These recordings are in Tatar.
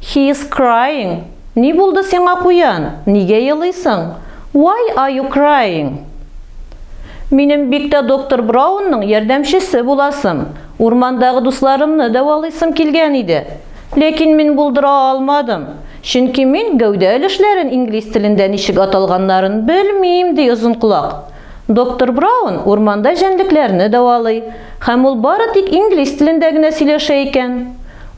He is crying. Ни булды сиңа, куян? Нигә елыйсың? Why are you crying? Минем бик тә доктор Браунның ярдәмчесе буласым, урмандагы дусларымны дәвалыйсым килгән иде. Ләкин мин булдыра алмадым, чөнки мин гәүдә өлешләрен инглиз телендә ничек аталганнарын белмим, ди Озынколак. Доктор Браун урманда җәнлекләрне дәвалый, һәм ул бары тик инглиз телендә генә сөйләшә икән.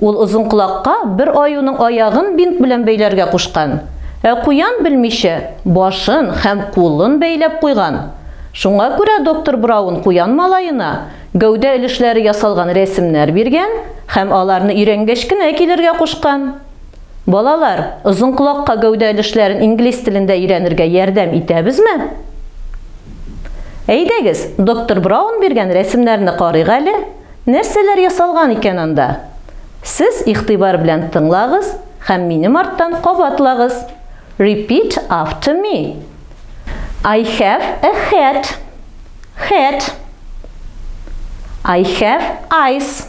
Ул озынколакка бер аюның аягын бинт белән бәйләргә кушкан, ә куян белмичә, башын һәм кулын бәйләп куйган. Шуңа күрә доктор Браун куян малаена гәүдә өлешләре ясалган рәсемнәр биргән һәм аларны өйрәнгәч кенә килергә кушкан. Балалар, озын колакка гәүдә өлешләрен инглиз телендә өйрәнергә ярдәм итәбезме? Әйдәгез, доктор Браун биргән рәсемнәрне карыйк әле. Нәрсәләр ясалган икән анда? Сез игътибар белән тыңлагыз һәм минем арттан кабатлагыз. Repeat after me. I have a hat. Hat. I have eyes.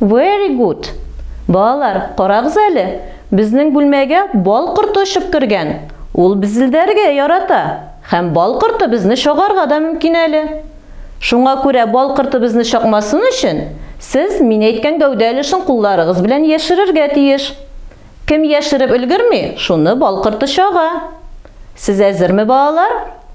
Very good! Балалар, карагыз әле, безнең бүлмәгә бал корты очып кергән. Ул безелдәргә ярата, һәм бал корты безне чагарга да мөмкин әле. Шуңа күрә бал корты безне чакмасын өчен, сез мин әйткән гәүдә өлешен кулларыгыз белән яшерергә тиеш. Кем яшереп өлгерми, шуны бал корты чага. Сез әзерме, балалар?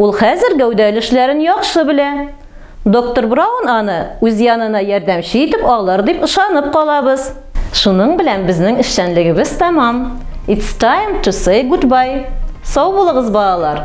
Ул хәзер гәүдә өлешләрен яхшы белә. Доктор Браун аны үз янына ярдәмче итеп алыр дип ышанып калабыз. Шуның белән безнең эшчәнлегебез тәмам. It's time to say goodbye. Сау булыгыз, балалар!